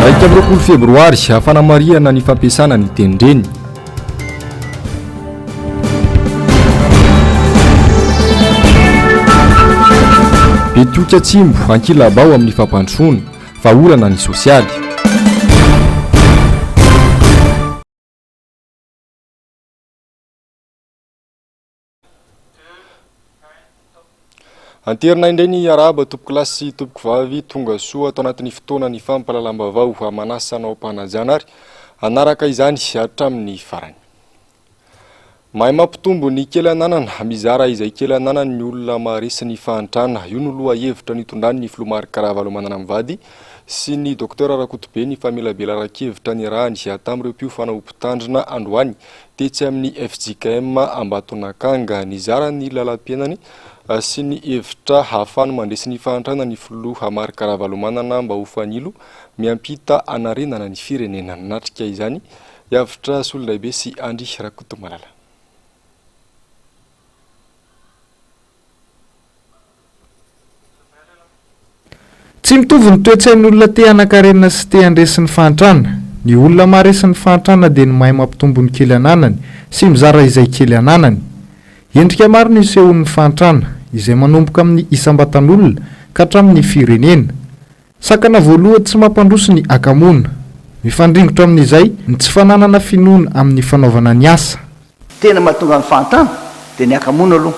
Iraika amby roapolo febroary, hafanamarihana ny fampiasana ny tenindreny. Betioky Atsimbo, ankilabao amin'ny fampandrosoana, fa olana ny sosialy. Anterina indray ny arahaba tompoko lahy sy tompoko vavy tonga soa ato anatin'ny fotoana ny fampalalam-bavao amanasa anao am-panajana ary anaraka izany hatramin'ny farany. Mahay mampitombo ny kely ananana, mizara izay kely ananany ny olona maharesy ny fahantrana. Io no loha hevitra nitondrany ny filoha Marc Ravalomanana mivady sy ny Docteur Rakotobe ny famelabelaran-kevitra niarahany tamin'ireo mpiofanao mpitandrina androany tetsy amin'ny fjkm Ambatonakanga. Nizara ny lalam-piainany sy ny hevitra hahafahany mandresy ny fahantrana ny filoha Marc Ravalomanana mba ho fanilo miampita hanarenana ny firenena. Nanatrika izany hiavotra Solondraibe sy Andry Rakotomalala. Tsy mitovy ny toe-tsain'ny olona te hanankarena sy te handresy ny fahantrana. Ny olona maharesy ny fahantrana dia ny mahay mampitombo ny kely ananany sy mizara izay kely ananany. Endrika maro no isehoan'ny fahantrana, izay manomboka amin'ny isam-batan'olona ka hatramin'ny firenena. Sakana voalohany tsy mampandroso ny hakamoana. Mifandringotra amin'izay ny tsy fananana finoana amin'ny fanaovana ny asa. Tena mahatonga ny fahantrana dia ny hakamoana aloha.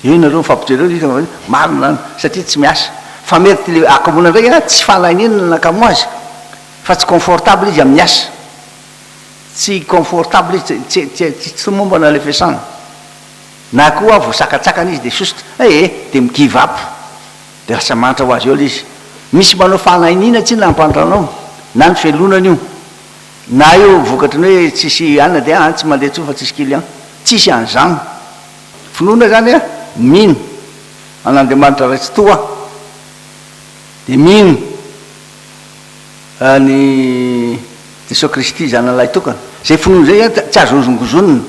Eo nareo mifampijoro eo izy hoe marina zany satria tsy miasa. Fa mety le hakamoana ndray a tsy fanahinana ny nakamoa azy fa tsy confortable izy amin'ny asa. Tsy confortable izy, tsy tsy mombana le fiasana. Na koa voasakatsakana izy dia sosotra, eh eh, dia mi give up, dia lasa manitra ho azy eo ilay izy. Misy manao fanainiana tsinona hampandra anao, na ny fialonana io, na io vokatry ny hoe tsisy anona dia an, tsy mandeha intsony fa tsisy client. Tsisy an'izany. Finoana izany an, mino an'Andriamanitra Ray Tsitoha, dia mino an'i Jesoa Kristy Zanany Lahitokana. Izay finoana izay izany tsy azo hozongozonina.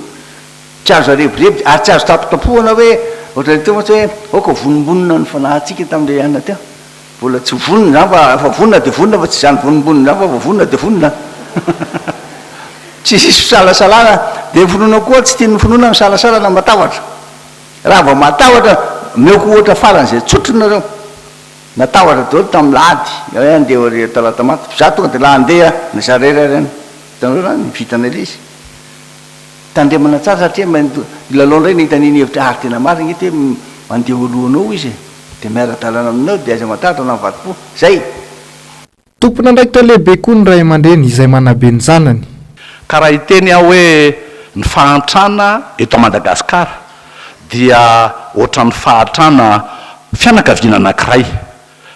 Tsy azo arebireby ary tsy azo tapotapohana hoe ohatran'ny teo mantsy hoe aoka vonimbonina ny fanahintsika tamin'ilay anona teo. Mbola tsy vonona izany fa efa vonona dia vonona fa tsy izany vonimbonina izany fa vao vonona dia vonona. Tsy hisy fisalasalana dia ny finoana koa tsy tian'ny finoana ny fisalasalana matahotra. Raha vao matahotra omeko ohatra faran'izay tsotra nareo. Natahotra daholo tamin'ny lahady hoe handeha harea talata maty. Izaho tonga dia lahy handeha na zara irery any. Hitanareo izany? Vita an'ilay izy. Tandremana tsara satria milalao indray ny hita an'iny hevitra ary tena marina eto hoe mandeha eo alohanao izy e! dia miara-dalana aminao dia aiza mahatratra na mivadi-po. Zay! Tompon'andraikitra lehibe koa ny ray aman-dreny izay manabe ny zanany. Ka raha hiteny aho hoe ny fahantrana eto Madagasikara dia ohatran'ny fahatrana fianakaviana anankiray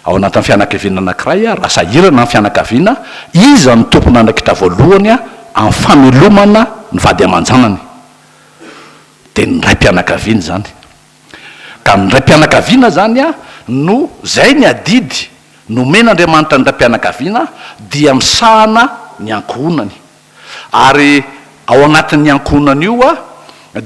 Ao anatin'ny fianakaviana anankiray, raha sahirana ny fianakaviana, iza no tompon'andraikitra voalohany amin'ny famelomana ny vady aman-janany? Dia ny raim-pianakaviana izany. Ka ny raim-pianakaviana izany no, izay ny adidy nomen'Andriamanitra ny raim-pianakaviana, dia misahana ny ankohonany. Ary ao anatin'ny ankohonany io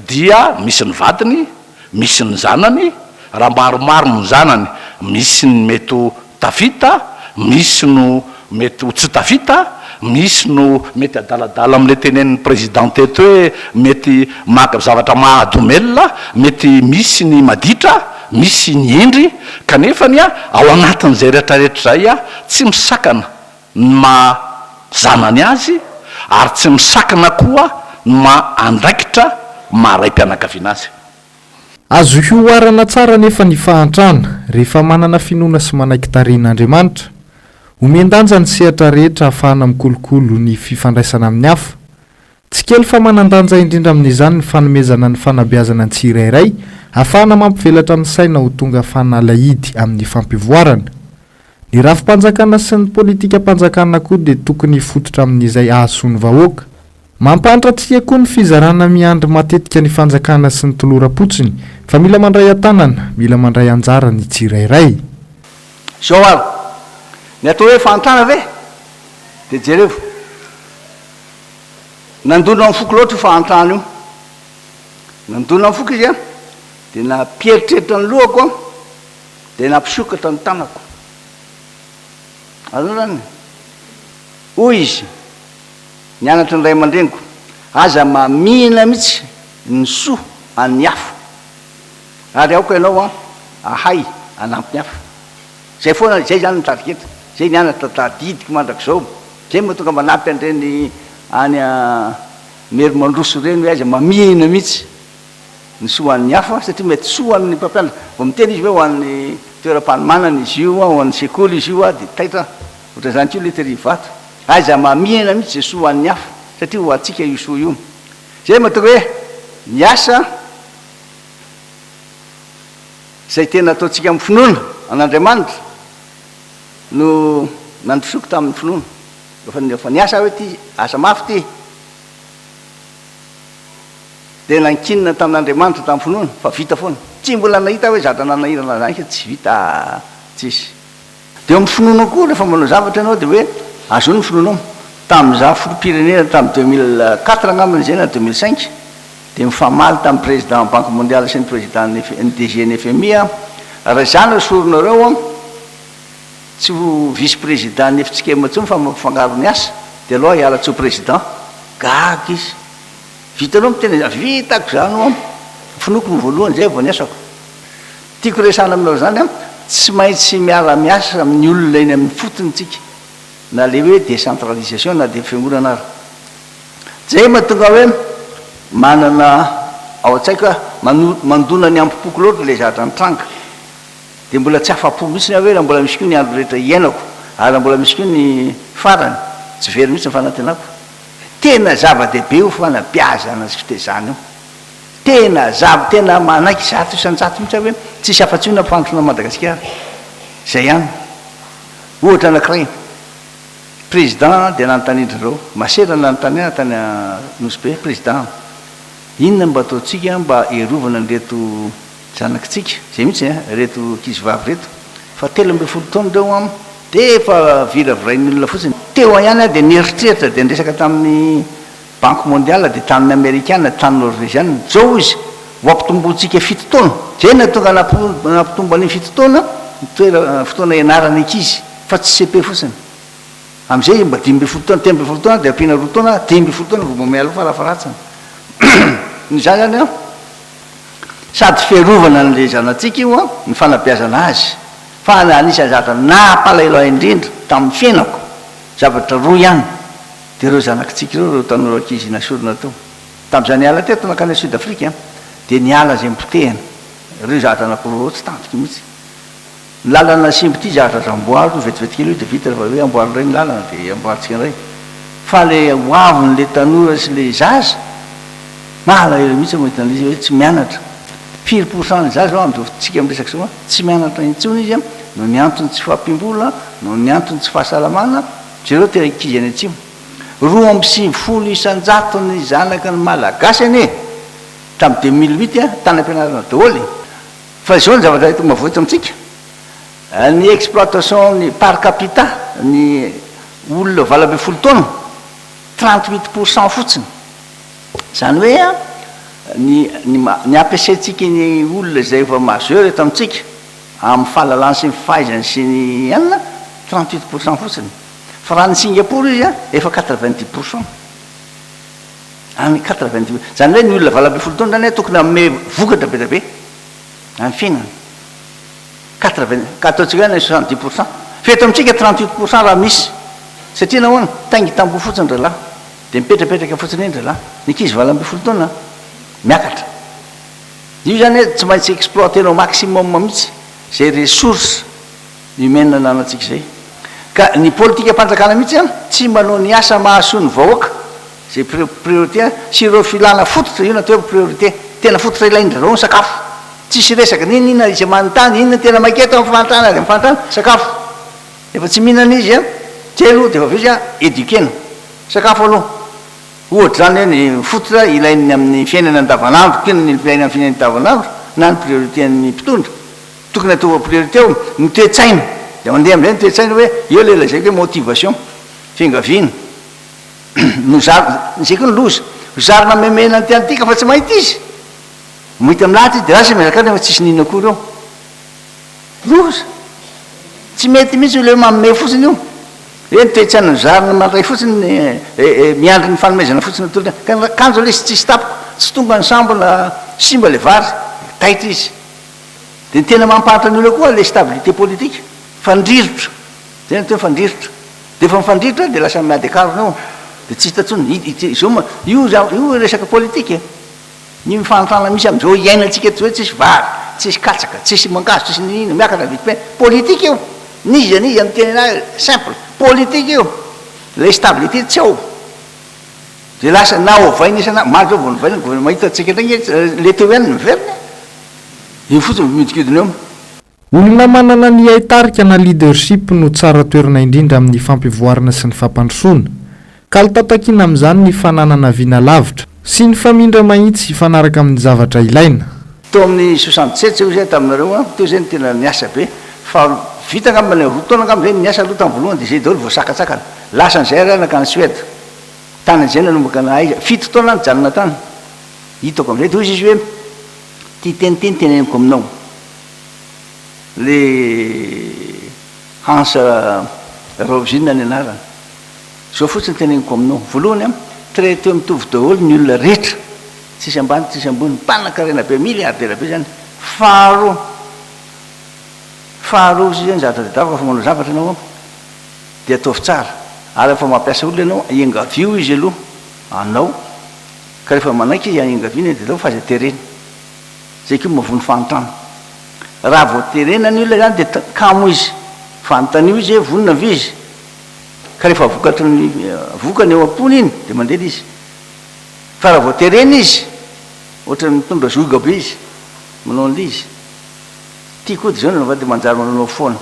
dia misy ny vadiny, misy ny zanany, raha maromaro ny zanany misy ny mety ho tafita, misy no mety ho tsy tafita, misy no mety adaladala amin'ilay tenenin'ny Président teto hoe mety maka zavatra mahadomelina, mety misy ny maditra, misy ny hendry, kanefany ao anatin'izay rehetrarehetra izay tsy misakana ny maha zanany azy ary tsy misakana koa ny maha andraikitra maha raim-pianakaviana azy. Azo hihoarana tsara anefa ny fahantrana, rehefa manana finoana sy manaiky tarehin'Andriamanitra. Omen-danja ny sehatra rehetra ahafahana mikolokolo ny fifandraisana amin'ny hafa, Tsy kely fa manan-danja indrindra amin'izany ny fanomezana ny fanabeazana ny tsirairay, hahafahana mampivelatra ny saina ho tonga fanalahidy amin'ny fampivoarana. Ny rafi-panjakana sy ny politikam-panjakana koa dia tokony hifototra amin'izay hahasoa ny vahoaka. Mampahantra tsia koa ny fizarana miandry matetika ny fanjakana sy ny toloram-potsiny, fa mila mandray an-tanana, mila mandray anjara ny tsirairay. Izao ary, ny atao hoe fahantrana ve? Dia jerevo. Nandona ny foko loatra io fahantrana io. Nandona ny foko izy an, dia nampieritreritra ny lohako an, dia nampisokatra ny tanako. Azonao izany? Hoy izy, ny anatry ny ray aman-dreniko, aza mamihina mihitsy ny soa an'ny hafa, ary aoka ianao an, ahay hanampy ny hafa. Zay foana, zay zany no target, zay ny anatra tadidiko mandrakizao, zay moa tonga manampy an'ireny any Mairie mandroso ireny hoe aiza mamihina mihitsy ny soa an'ny hafa satria mety soa ho an'ny mpampianatra, vao miteny izy hoe ho an'ny toeram-panomanana izy io, ho an'ny sekoly izy io dia taitra ohatran'izany koa ilay tery vato, aiza mamihina mihitsy izay soa ho an'ny hafa satria ho antsika io soa io, zay mahatonga hoe miasa. Izay tena ataontsika amin'ny finoana an'Andriamanitra no nandrosoako tamin'ny finoana. Efa efa niasa aho hoe ity asa mafy ity. Dia nankinina tamin'Andriamanitra tamin'ny finoana fa vita foana. Tsy mbola nahita aho hoe zatra nanahirana an'izany ka tsy vita, tsisy. Dia eo amin'ny finoanao koa rehefa manao zavatra ianao dia hoe azony ny finoanao. Tamin'izaho filoham-pirenena tamin'ny deux mille quatre angambany izay na deux mille cinq dia nifamaly tamin'ny président banque mondiale sy ny président ny DG ny FMI aho, raha izaho no soronareo tsy ho vice président ny Ftskem intsony fa mampifangaro ny asa dia aleo aho hiala tsy ho président. Gaga izy. Vitanao miteny an'izany? Vitako izany hono. Finoako ny voalohany izay vao ny asako. Tiako resahana aminao izany an, tsy maintsy miara miasa amin'ny olona eny amin'ny fotony isika, na ilay hoe décentralisation na dia fiangonana ary. Izay mahatonga ahy hoe manana ao an-tsaiko hoe mano, mandona ny ambo-poko loatra ilay zavatra nitranga. Dia mbola tsy afa-po mihitsy aho hoe raha mbola misy koa ny andro rehetra hiainako, ary raha mbola misy koa ny farany, tsy very mihitsy ny fanantenako. Tena zava-dehibe io fanabeazana sy fitezana io. Tena zava tena manaiky zato isan-jato mihitsy aho hoe tsisy afa-tsy io ny ampifandrosoana an'i Madagasikara. Izay ihany. Ohatra anankiray, Président dia nanontanian-dry zareo, masera nanontany ahy tany Nosy Be, Président, inona no mba ataontsika mba hiarovana an'ireto zanakitsika, izay mihitsy e, ireto ankizy vavy ireto, fa telo ambin'ny folo taona ireo an, dia efa viravirain'ny olona fotsiny. Teo ihany aho dia nieritreritra dia niresaka tamin'ny Banque Mondiale dia tanin'ny Amerikana, tanin'ny Norveziana, Zao izy, ho ampitomboantsika fito taona. Dia na tonga nampitombo an'iny fito taona ny toera, fotoana ianarana ankizy, fa tsy cepe fotsiny. Amin'izay mba dimy ambin'ny folo taona, telo ambin'ny folo taona dia ampiana roa taona, dimy ambin'ny folo taona vao mba mialoha farafaharatsiny. Noho izany izany an, sady fiarovana an'ilay zanatsika io an, ny fanabeazana azy. Fa anisan'ny zavatra nampalahelo ahy indrindra tamin'ny fiainako, zavatra roa ihany. Dia ireo zanakitsika ireo, ireo tanora ankizy nasorina tao. Tamin'izaho niala teto nankany Sud Afrique, dia niala izay nipotehana. Ireo zahatra anankiroa ireo tsy tantiko mihitsy. Ny lalana nasimba ity zahatra azo amboary, io vetivety kely io dia vita rehefa avy eo amboary indray ny lalana dia amboarintsika indray. Fa ilay hoavin'ilay tanora sy ilay zaza, mahalahelo mihitsy aho mahita an'ilay izy hoe tsy mianatra. Firy pour cent ny zaza ao amin'izao fotoantsika miresaka izao an, tsy mianatra intsony izy an, noho ny antony tsy fahampiam-bola, noho ny antony tsy fahasalamana, Jereo tena ankizy any atsimo. Roa amby sivifolo isan-jato ny zanaka ny malagasy anie e! Hatramin'ny deux mille huit a, tany am-pianarana daholo e! Fa izao ny zavatra eto Mahafoy eto amintsika, ny exploitation ny par capita ny olona valo ambin'ny folo taona, trente huit pour cent fotsiny. Izany hoe a, ny ny ny ampiasaintsika ny olona izay efa majeur eto amintsika, Amin'ny fahalalany sy ny fahaizany sy ny Inde, trente huit pour cent fotsiny. Fa raha any Singapour izy an, efa quatre vingt dix pour cent. Any quatre vingt dix. Izany hoe ny olona valo ambin'ny folo taona izany an, tokony hanome vokatra be dia be amin'ny fiainany. Quatre vingt, ka ataontsika hoe any soixante dix pour cent. Fa eto amintsika trente huit pour cent raha misy. Satria nahoana? Taingy tamboho fotsiny rahalahy. Dia mipetrapetraka fotsiny eny rahalahy. Ny ankizy valo ambin'ny folo taona an, miakatra. Io zany hoe tsy maintsy exploiter-nao maximum mihitsy zay ressource humaine ananantsika zay. Ka ny politikam-panjakana mihitsy an, tsy manao ny asa mahasoa ny vahoaka, zay priorité an, sy ireo filana fototra, io no atao hoe priorité, tena fototra ilain-dry zareo ny sakafo. Tsisy resaka na inona inona, izy manontany inona no tena maika eto amin'ny fahantrana avy amin'ny fahantrana, sakafo. Rehefa tsy mihinana izy an, telo dia efa avy eo izy an, éduquer-na. Sakafo aloha. Ohatra izany hoe ny fototra ilain'ny amin'ny fiainana andavanandro koa ny ilaina amin'ny fiainana andavanandro na ny priorité-n'ny mpitondra. Tokony ataovy ho priorité ao ny toe-tsaina. Dia mandeha amin'izay ny toe-tsaina hoe eo ilay lazaiko hoe motivation, fiangaviana. No zary, izay koa no loza. Zary namemena an'ity an'ity ka fa tsy mahita izy. Mahita milahatra izy dia lasa izy mihazakazaka fa tsisy n'inona akory eo. Loza! Tsy mety mihitsy io le hoe manome fotsiny io. Hoe ny toe-tsaina nozariny mandray fotsiny eh, miandry ny fanomezana fotsiny atolotra. Ka ny akanjo lesy tsisy tapoko, tsy tonga nisambona, simba le vary, taitra izy. De ny tena mampahantra ny olona koa le stabilité politique, fandrirotra, zay ny atao hoe fandrirotra. De efa mifandrirotra de lasa miady akarona eo, de tsy hita intsony, izao ma, io, io resaka politique e. Ny mifanintana misy amin'izao iainantsika eto izao, tsisy vary, tsisy katsaka, tsisy mangahazo, tsisy n'inon'inona, miakatra ny vidim-piainana, politika io! N'iza n'iza miteny an'ahy, simple, politika io! Ilay stabilité tsy ao, dia lasa na ovaina isan'andro, omaly izao vao novaina ny gouvernement, hitantsika indray ange, le teo ihany no miverina e! Io fotsiny no mihodinkodina eo. Olona manana ny haitarika na leadership no tsara toerana indrindra amin'ny fampivoarana sy ny fampandrosoana. Kalitao takiana amin'izany ny fananana vina lavitra, sy ny famindra mahitsy hifanaraka amin'ny zavatra ilaina. Tao amin'ny soixante sept zay hoy zay taminareo an, teo zay no tena niasa be, fa vita angamba le roa taona angamba zay no niasa aloha tamin'ny voalohany dia zay daholo voasakantsakana. Lasa an'izay ary aho nankany Suède, tany an'izay nanomboka nahaiza, fito taona aho nijanona tany, hitako an'izay dia hoy izy hoe, ity teny ity no teneniko aminao, le Hans Raovina ny anarany. Zao fotsiny teneniko aminao, voalohany an, traite mitovy daholo ny olona rehetra, tsisy ambany tsisy ambony, mpanankarena be, milliardaire be zany, faharoa, faharoa sisa ny zavatra tadiaviko rehefa manao zavatra ianao an, de ataovy tsara, ary rehefa mampiasa olona ianao an, engavio izy aloha anao, ka rehefa manaiky izy an, engaviana izy de ataovy fa aza terena. izay koa mavoa ny fahantrana. Raha vao terena ny olona izany dia t, kamo izy. Fanontanio izy hoe vonona ve izy. Ka rehefa vokatry ny vokany eo am-pony iny dia mandeha ilay izy. Fa raha vao terena izy, ohatra mitondra zioga be izy, manao an'ilay izy. Tiako hody izao ny vavahady dia manjary manao foana.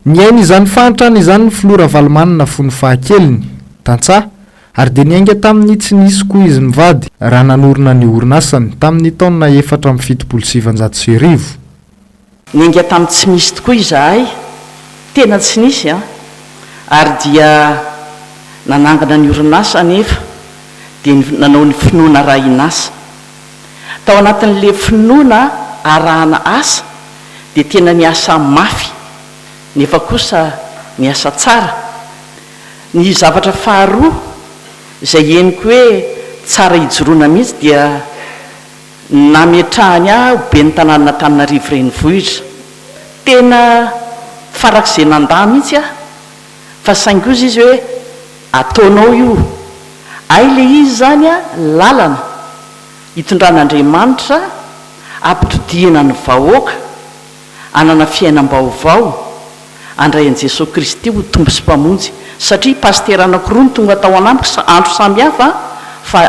Nihaino izany fahantrana izany ny filoha Ravalomanana fony fahakeliny, tantsaha, ary dia niainga tamin'ny tsy nisy koa izy mivady raha nanorina ny orinasany tamin'ny taona efatra amby fitopolo sy sivinjato sy arivo. Niainga tamin'ny tsy misy tokoa izahay, tena tsy nisy an! ary dia nanangana ny orinasa anefa dia nanao ny finoana raha hinasa. Tao anatin'ny le finoana arahana asa dia tena niasa mafy nefa kosa niasa tsara. Ny zavatra faharoa izay henoko hoe tsara ijoroana mihitsy dia nametrahany ahy ho ben'ny tanànan'Antananarivo Renivohitra. Tena farak'izay nandà mihitsy aho fa saingy ozy izy hoe ataonao io ay le izy zany a lalana itondran'Andriamanitra apitodihana ny vahoaka anana fiainambaovao andray an'i Jesoa Kristy ho Tompo sy Mpamonjy satria pasitera anakiroa no tonga tao anamiko andro samy hafa fa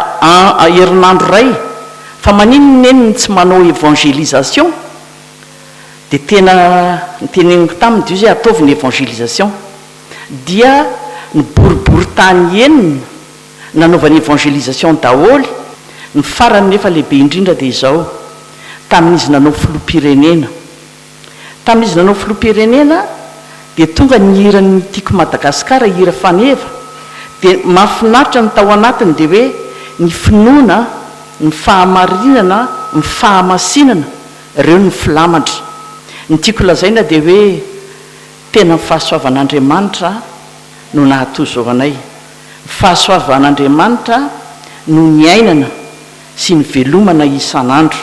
herinandro ray fa maninona eny no tsy manao évangélisation Dia tena noteneniko taminy Dieuzy hoe ataovy ny évangélisation. Dia ny boribory tany enina nanaovany évangélisation daholo, ny farany nefa lehibe indrindra dia izao, tamin'izy nanao filoham-pirenena. Tamin'izy nanao filoham-pirenena dia tonga ny hiran'ny Tiako Madagascar, hira faneva, dia mahafinaritra ny tao anatiny dia hoe ny finoana, ny fahamarinana, ny fahamasinana. Ireo no filamatra. Ny tiako lazaina dia hoe tena ny fahasoavan'Andriamanitra no nahatozo anay. Ny fahasoavan'Andriamanitra no niainana sy nivelomana isan'andro.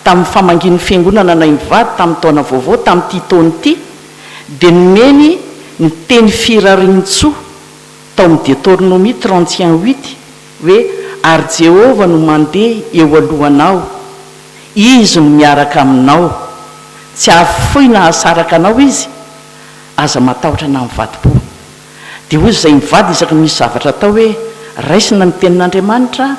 Tamin'ny famangian'ny Fiangonana anay mivady tamin'ny taona vaovao tamin'ity taona ity dia nomeny ny teny Firariantsoa tao amin'ny Detornomie trente et un huit hoe, Ary Jehovah no mandeha eo alohanao, izy no miaraka aminao, tsy hahafoy na hahasaraka anao izy, aza matahotra na mivadi-po. Dia hoy izay mivady isaky ny misy zavatra atao hoe, Raisina ny Tenin'Andriamanitra,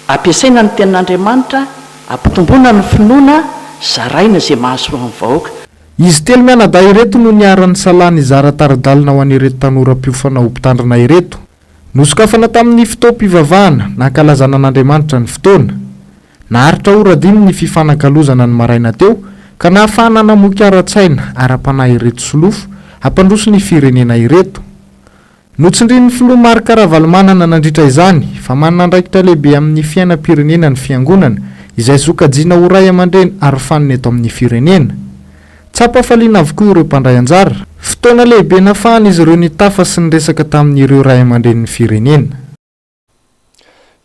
ampiasaina ny Tenin'Andriamanitra, ampitomboina ny finoana, zaraina izay mahasoa ny vahoaka. Izy telo mianadahy ireto no niara-nisalahy nizara tari-dalana ho an'ireto tanora mpiofana ho mpitandrina ireto. Nosokafana tamin'ny fotoam-pivavahana nankalazana an'Andriamanitra ny fotoana. Naharitra ora dimy ny fifanakalozana ny maraina teo ka nahafahana namoky ara-tsaina, ara-panahy ireto solofo hampandroso ny firenena ireto. Notsindrin'ny Filoha Marc Ravalomanana nandritra izany fa manana andraikitra lehibe amin'ny fiainam-pirenena ny Fiangonana izay sokajiana ho Ray aman-dReny arofanina eto amin'ny firenena. Tsapa hafaliana avokoa ireo mpandray anjara. Fotoana lehibe nafahan'izy ireo nitafa sy niresaka tamin'ireo ray aman-drenin'ny firenena.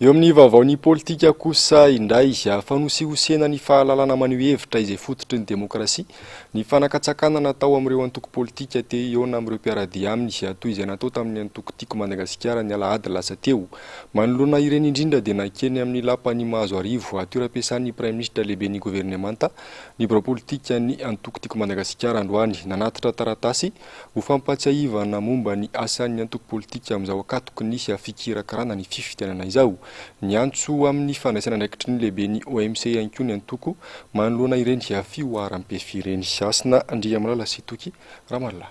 Eo amin'ny vaovaon'ny politika kosa indray, fanosihosena ny fahalalana maneho hevitra izay fototry ny demokrasia, ny fanakatsakana natao amin'ireo antoko politika te hihaona amin'ireo mpiara-dia aminy, toy izay natao tamin'ny antoko Tiako Madagasikara ny alahady lasa teo. Manoloana ireny indrindra dia nankeny amin'ny lapan'i Mahazoarivo, toeram-piasan'ny praiminisitra lehiben'ny governemanta, Ny birao politikan'ny antoko Tiako Madagasikara androany nanatitra taratasy ho fampahatsiahivana momba ny asan'ny antoko politika amin'izao ankatoky ny fikirakirana ny fifidianana izao. Niantso amin'ny fandraisana andraikitry ny lehiben'ny OMC ihany koa ny antoko manoloana ireny fihoaram-pefy ireny. Hasina Andriamalala sy Toky Ramallah.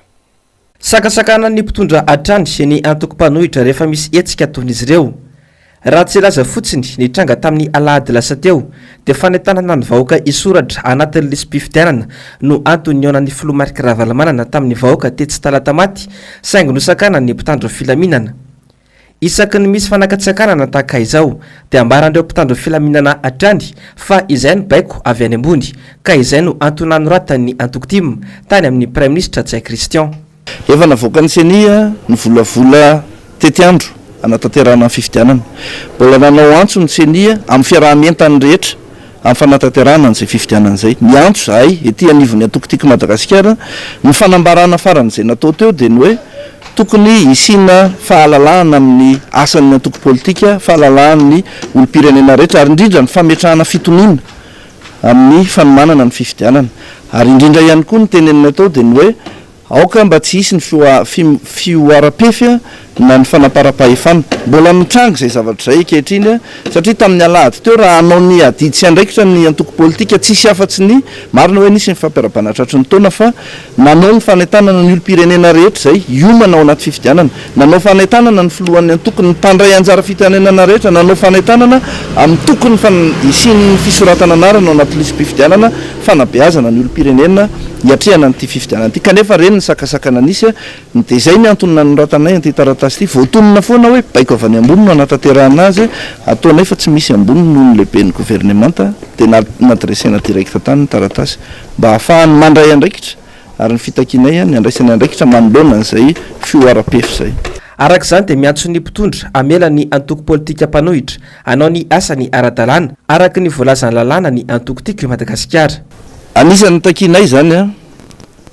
Sakasakanan'ny mpitondra hatrany ny antoko mpanohitra rehefa misy hetsika toy ny izy ireo. Raha tsy hilaza fotsiny ny tranga tamin'ny alahady lasa teo dia fanentanana ny vahoaka hisoratra anatin'ny lisi-pifidianana no antony nihaonan'ny filoha Marc Ravalomanana tamin'ny vahoaka tetsy Talatamaty saingy nosakanan'ny mpitandro filaminana Isaky ny misy fanakatsakanana tahaka izao dia ambaran'ireo mpitandro filaminana hatrany fa izay no baiko avy any ambony ka izay no antony nanoratan'ny antoko tim tany amin'ny praiminisitra Ntsay Christian. Efa navoakan'ny Ceni ny volavola tetiandro hanatanterahana ny fifidianana. Mbola nanao antso ny Ceni amin'ny fiaraha-mientan'ny rehetra amin'ny fanatanterahana an'izay fifidianana izay. Miantso izahay, ety anivon'ny antoko Tiako Madagasikara, ny fanambarana faran'izay natao teo dia ny hoe tokony hisiana fahalalahana amin'ny asan'ny antoko politika, fahalalahan'ny olom-pirenena rehetra ary indrindra ny fametrahana fitoniana amin'ny fanomanana ny fifidianana. Ary indrindra ihany koa ny tenenina tao dia ny hoe Aoka mba tsy hisy ny fihoaram-pefy na ny fanamparam-pahefana. Mbola mitranga izay zavatra izay ankehitriny satria tamin'ny alahady teo raha hanao ny adidy sy andraikitra ny antoko politika tsy hisy afa-tsy ny, marina hoe nisy ny fampiarabanana tratry ny taona fa nanao ny fanentanana ny olom-pirenena rehetra izay hiomana ao anaty fifidianana. Nanao fanentanana ny filohan'ny antokony, ny mpandray anjara fitenenana rehetra nanao fanentanana amin'ny tokony hisian'ny fisoratana anarana ao anaty lisi-pifidianana, fanabeazana ny olom-pirenena hiatrehana an'ity fifidianana ity. Kanefa reny ny sakasakana nisy, dia izay ny antony nanoratanay an'ity taratasy ity. Voatonona foana hoe baiko avy any ambony no hanatanterahana azy, ataonay fa tsy misy ambony noho ny lehiben'ny governemanta, dia nadresena direct tany ny taratasy mba hahafahany mandray andraikitra. ary ny fitakianay ny handraisany andraikitra manoloana izay fihoaram-pefy izay. Araka izany dia miantso ny mpitondra hamela ny antoko politika mpanohitra hanao ny asany ara-dalàna araka ny voalazan'ny lalàna ny antoko Tiako i Madagasikara. Anisan'ny takianay izany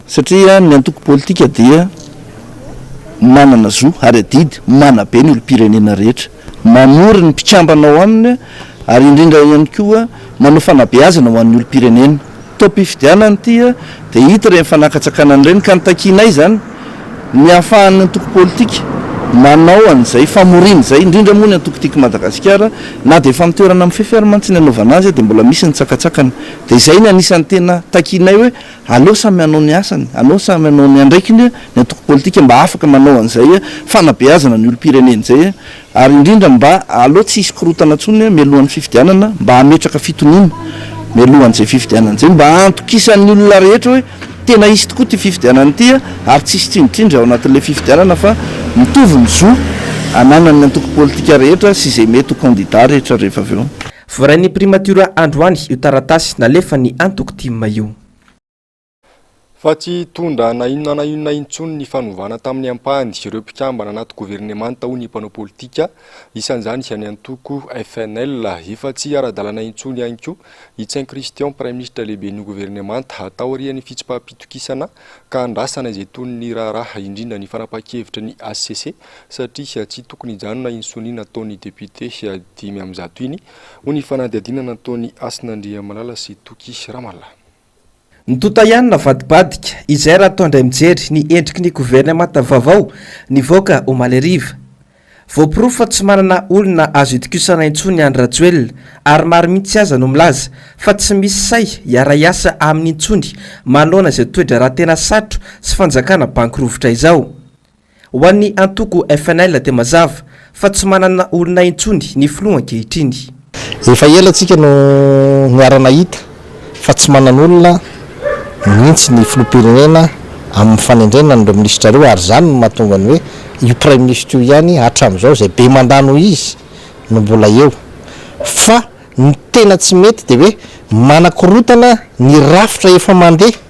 satria ny antoko politika dia manana zo ary adidy manabe ny olom-pirenena rehetra. Mamory ny mpikambana ao aminy ary indrindra ihany koa manao fanabeazana ho an'ny olom-pirenena. Taom-pifidianana ity dia hita ireny fanakatsakana ireny ka ny takianay izany ny ahafahan'ny antoko politika manao an'izay famoriana izay indrindra moa ny antoko Tiako Madagasikara na dia efa amin'ny toerana mifefy ary mantsy ny anaovana azy dia mbola misy ny tsakatsakana dia izay ny anisan'ny tena takianay hoe Aleo samy hanao ny asany, aleo samy hanao ny andraikiny ny antoko politika mba afaka manao an'izay fanabeazana ny olom-pirenena izay ary indrindra mba aleo tsy hisy korotana intsony mialohan'ny fifidianana mba hametraka fitoniana mialohan'izay fifidianana izay mba hantokisan'ny olona rehetra hoe tena hisy tokoa ity fifidianana ity ary tsy hisy tsindritsindry ao anatin'ilay fifidianana fa mitovy ny zo ananan'ny antoko politika rehetra sy izay mety ho kandida rehetra rehefa avy eo. Voarain'ny primatiora androany io taratasy nalefan'ny antoko tim io. Fa tsy hitondra na inona na inona intsony ny fanovana tamin'ny ampahany ireo mpikambana anaty governemanta hoy ny mpanao politika, isan'izany izany antoko FNL. Efa tsy ara-dalana intsony ihany koa i Tsain Christian, praiminisitra lehiben'ny governemanta, taorian'ny fitsipaham-pitokisana ka andrasana izay tohin'ny raharaha, indrindra ny fanapahan-kevitry ny hcc. satria tsy tokony hijanona iny sonia nataon'ny depiote dimy amby zato iny, hoy ny fanadihadiana nataon'i Hasina Andriamalala sy Toky Ramala. Ny tonta ihany navadibadika, izay raha atao indray mijery ny endriky ny governemanta vaovao nivoaka omaly hariva. Voaporofo fa tsy manana olona azo itokisana intsony Andry Rajoelina ary maro mihitsy aza no milaza fa tsy misy sahy hiara-hiasa aminy intsony manoloana izao toe-draharaha tena satro sy fanjakana banky rovitra izao. Ho an'ny antoko FNL dia mazava fa tsy manana olona intsony ny filoha ankehitriny. Efa ela tsika no niara-nahita fa tsy manan'olona mihitsy ny filoham-pirenena amin'ny fanendrena an'ireo minisitra ireo ary izany no mahatonga ny hoe io praiminisitra io ihany hatramin'izao izay be mandat noho izy no mbola eo. Fa ny tena tsy mety dia hoe manakorotana ny rafitra efa mandeha.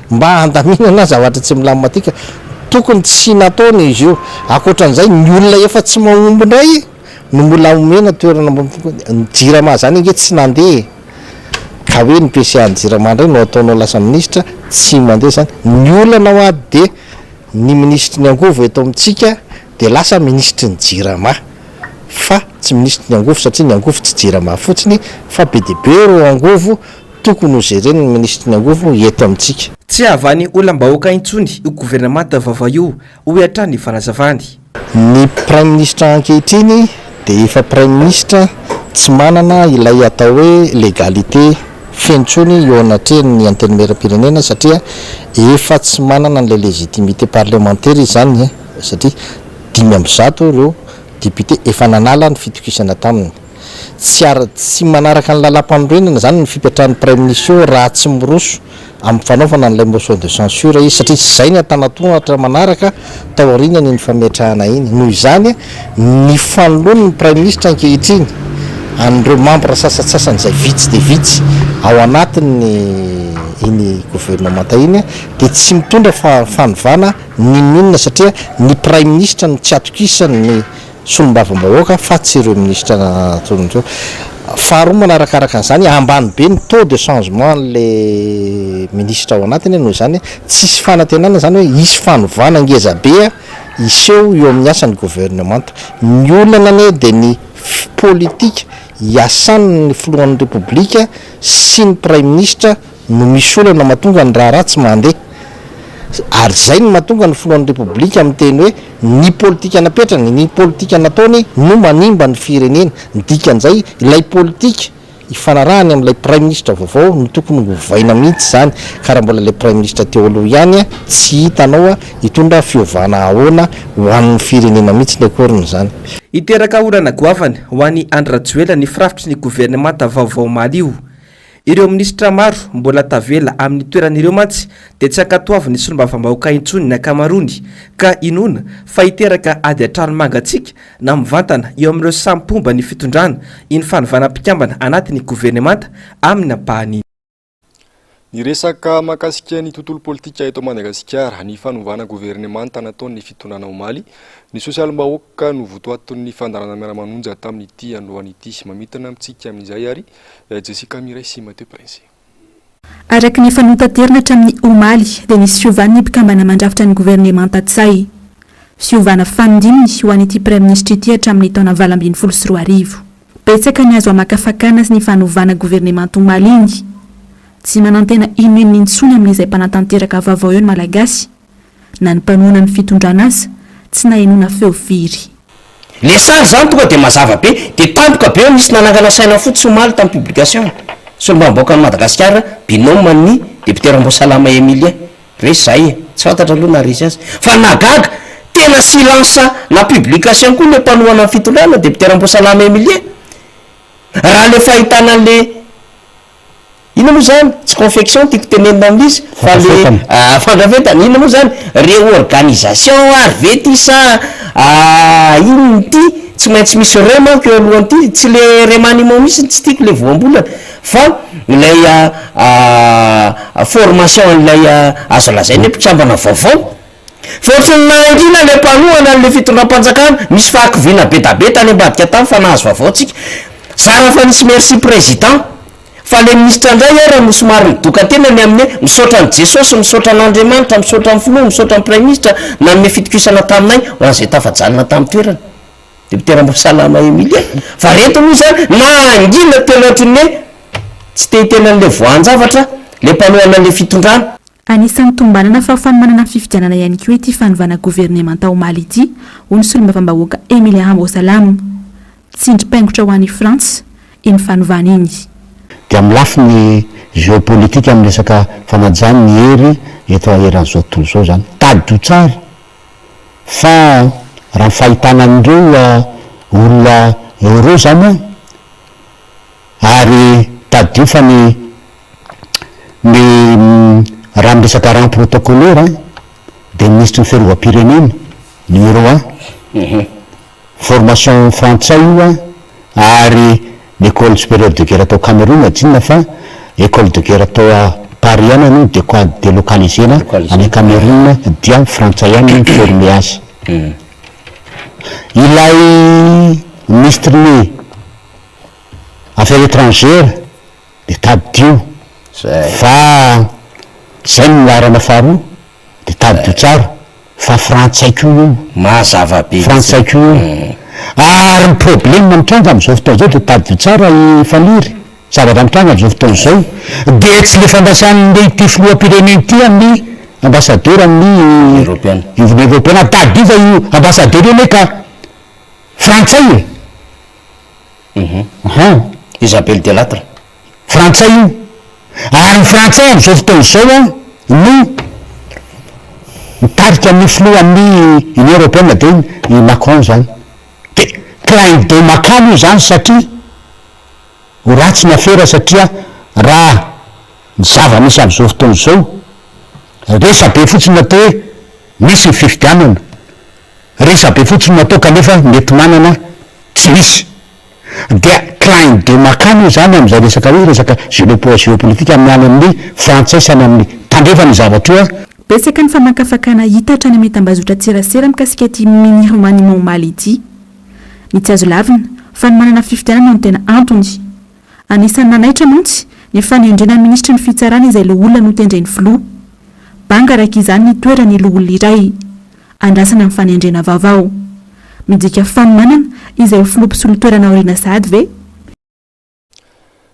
Mba handaminana zavatra tsy milamina tika, tokony tsy nataony izy io. Ankoatran'izay, ny olona efa tsy mahomby indray no mbola omena toerana ambony fokoa. Ny Jirama izany ange tsy nandeha e! Ka hoe ny PCA-n'ny Jirama indray no ataonao lasa minisitra? Tsy mandeha izany. Ny olana ao ady dia ny minisitry ny angovo eto amintsika dia lasa minisitry ny Jirama fa tsy minisitry ny angovo satria ny angovo tsy Jirama fotsiny fa be dia be ireo angovo. Tokony ho jereny ny minisitry ny angovo eto amintsika. Tsy hahavan'ny olam-bahoaka intsony io governemanta vaovao io, hoy hatrany ny fanazavany. Ny praiminisitra ankehitriny dia efa praiminisitra tsy manana ilay atao hoe legalité feno intsony eo anatrehan'ny antenimieram-pirenena satria efa tsy manana an'ilay légitimité parlemantera izy izany satria dimy amby zato ireo députés efa nanala ny fitokisana taminy. Tsy ara tsy manaraka ny lalam-panorenana izany ny fipetrahan'ny Praiminisio raha tsy miroso amin'ny fanaovana an'ilay motion de censure izy satria tsy izay ny antanatohatra manaraka taorianan'iny fametrahana iny. Noho izany, ny fanoloan'ny Praiminisitra ankehitriny an'ireo mambra sasantsasany izay vitsy dia vitsy ao anatin'ny iny governemanta iny dia tsy mitondra fa fanovana n'inon'inona satria ny Praiminisitra no tsy atokisan'ny solombavambahoaka fa tsy ireo minisitra natolony ireo. Faharoa manarakaraka an'izany, ambany be ny taux de changement an'ilay minisitra ao anatiny noho izany tsisy fanantenana izany hoe hisy fanovana ngeza be hiseho eo amin'ny asan'ny governemanta. Ny olana anie dia ny politika iasan'ny filohan'ny Repoblika sy ny praiminisitra. no misy olana mahatonga ny raharaha tsy mandeha ary izay no mahatonga ny filohan'ny Repoblika miteny hoe ny politika napetrany, ny politika nataony no manimba ny firenena. Ny dikan'izay, ilay politika ifanarahany amin'ilay praiminisitra vaovao no tokony ho ovaina mihitsy izany ka raha mbola ilay praiminisitra teo aloha ihany tsy hitanao hitondra fiovana ahoana ho an'ny firenena mihitsy ny akoron'izany. Hiteraka orana goavana ho an'i Andry Rajoelina ny firafitry ny governemanta vaovao omaly io. Ireo minisitra maro mbola tavela amin'ny toerany ireo mantsy dia tsy ankatoavin'ny solombavambahoaka intsony ny ankamaroany ka inoana fa hiteraka ady an-trano mangatsiaka na mivantana eo amin'ireo samy mpomba ny fitondrana iny fanovana mpikambana anatin'ny governemanta amin'ny ampahany Niresaka mahakasika ny tontolo politika eto Madagasikara, ny fanovana governemanta nataon'ny fitondrana omaly, ny sosialim-bahoaka no votoatin'ny fandaharana Miara-manonja tamin'ity androany ity. Mamintina amintsika amin'izay ary Jessica Mireille sy Matteo Princi. Araka ny efa notaterina hatramin'ny omaly dia nisy fiovan'ny mpikambana mandrafitra ny governemanta Tsay. Fiovana fanindininy ho an'ity praiminisitra ity hatramin'ny taona valo ambin'ny folo sy roa arivo. Betsaka ny azo hamakafakana ny fanovana governemanta omaly iny. Tsy manantena inoinona intsony amin'izay mpanatanteraka vaovao eo ny Malagasy. Na ny mpanohana ny fitondrana aza tsy nahenoana feo firy. Le sary zany tonga de mazava be, de tampoka be nisy nanangana saina fotsy omaly tam publication ny solombavambahoakan'i Madagasikara binôme an'ny député Ramboasalama Emilien, re zay e, tsy fantatra aloha naharesy azy, fa nahagaga, tena silence na publication koa le mpanohana ny fitondrana, député Ramboasalama Emilien, raha le fahitana an'le. Inona moa zany? Tsy confection tiako tenenina amin'izy fa le fandrafetana, inona moa zany? Réorganisation ary ve ty sa inona ity? Tsy maintsy misy re manko eo alohan'ity, tsy le remaniement mihintsy no tsy tiako le voambolana fa ilay formation an'ilay azo lazaina hoe mpikambana vaovao. Voatry ny nahangina ilay mpanohana an'ilay fitondram-panjakana, misy fahakiviana bedabe tany ambadika tany fa nahazo vaovao tsika. Zara fa nisy merci président. Fa ilay minisitra indray ary no somary nidoka tena ny amin'ny hoe misaotra an'i Jesosy, misaotra an'Andriamanitra, misaotra ny filoha, misaotra ny praiminisitra nanome fitokisana taminay ho an'izay tafajanona tamin'ny toerana. Dokotera Ambohisalama Emilia. Fa ireto moa izany nahangina tena ohatry ny hoe tsy te-hiteny an'ilay voahan-javatra ilay mpanohana an'ilay fitondrana. Anisan'ny tombanana fahafahany manana fifidianana ihany koa ity fanovana governemanta ao Mali ity, hoy ny solombavambahoaka Emile Hambo Salam. Tsindrim-paingotra ho an'i Frantsa iny fanovana iny. Dia amin'ny lafiny geopolitika amin'ny resaka fanajana ny hery eto eran'izao tontolo izao izany. Tadidio tsara fa raha ny fahitana an'ireo olona eo ireo izany an, ary tadidio fa ny Ny raha miresaka rang protocolaire an, dia ny minisitry ny fiarovam-pirenena, numéro un, formation frantsay io an, ary ny ecole supérieure de guerre tao Cameroun tsinona fa ecole de guerre tao Paris ihany aloha dia ko delocaliser-na any Cameroun dia frantsay ihany no mi-former azy. Ilay minisitry ny affaires étrangères. de tadidio fa zay no laharana faharoa de tadidio tsara fa frantsay ko io, mazava be, frantsay ko io, ary ny problema mitranga amizao fotoana zao de tadidio tsara i faniry zavatra mitranga amizao fotoana zao de tsy le fandrasanle ity filoham-pirenena ity aminy ambassadeur aminy union europeana tadidio fa io ambassadeur io anie ka frantsay e. Hum! Isabelle Delattre! Frantsay io! Ary ny Frantsay amin'izao fotoana izao an, no mitarika amin'ny filohan'ny Union Européenne dia i Macron izany. Dia clin d'oeil makany io izany satria ho ratsy ny afera satria raha ny zava-misy amin'izao fotoana izao, resabe fotsiny atao hoe misy ny fifidianana. Resabe fotsiny no atao kanefa mety manana tsy misy. Dia clin de makany io izany amin'izay resaka hoe resaka geopolitika amin'ny any amin'ny frantsay sy any amin'ny tandrefana io zavatra io a. Betsaka ny famakafakana hita hatrany amin'ny tambazotran-tserasera mikasika ity mini remaniement omaly ity. Ny tsy azo lavina, fa ny manana fifidianana no tena antony. Anisan'ny nanaitra mantsy ny fanendrena minisitry ny fitsarana izay loholona notendren'ny filoha. Banga araka izany ny toeran'ny loholona iray. Andrasana ny fanendrena vaovao. Midika fanomanana izay ho filoha mpisolo toerana aoriana sahady ve?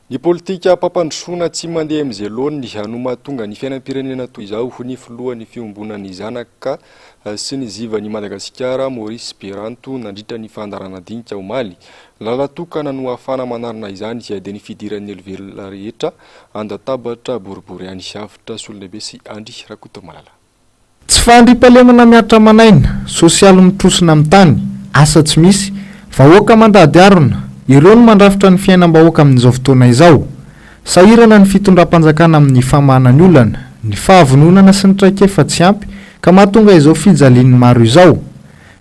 Ny politikam-pampandrosoana tsy mandeha amin'izay laoniny no mahatonga ny fiainam-pirenena toy izao, hoy ny filohan'ny fiombonan'ny zanaka. sy ny Zivan' i Madagasikara, Maurice Beranto, nandritra ny fandaharanadinika, omaly. Lalan-tokana no ahafahana manarina izany izay dia ny fidiran' ny olovelona rehetra an-databatra boribory any sy avotra, Sololehibe sy Andry Rakotomalala. Tsy fandriampahalemana mihatra aman'aina, sosialy mitrosona amin'ny tany, asa tsy misy, vahoaka mandady harona, ireo no mandrafitra ny fiainam-bahoaka amin'izao fotoana izao. Sahirana ny fitondram-panjakana amin'ny famahana ny olana, ny fahavononana sy ny traikefa tsy ampy ka mahatonga izao fijalian'ny maro izao.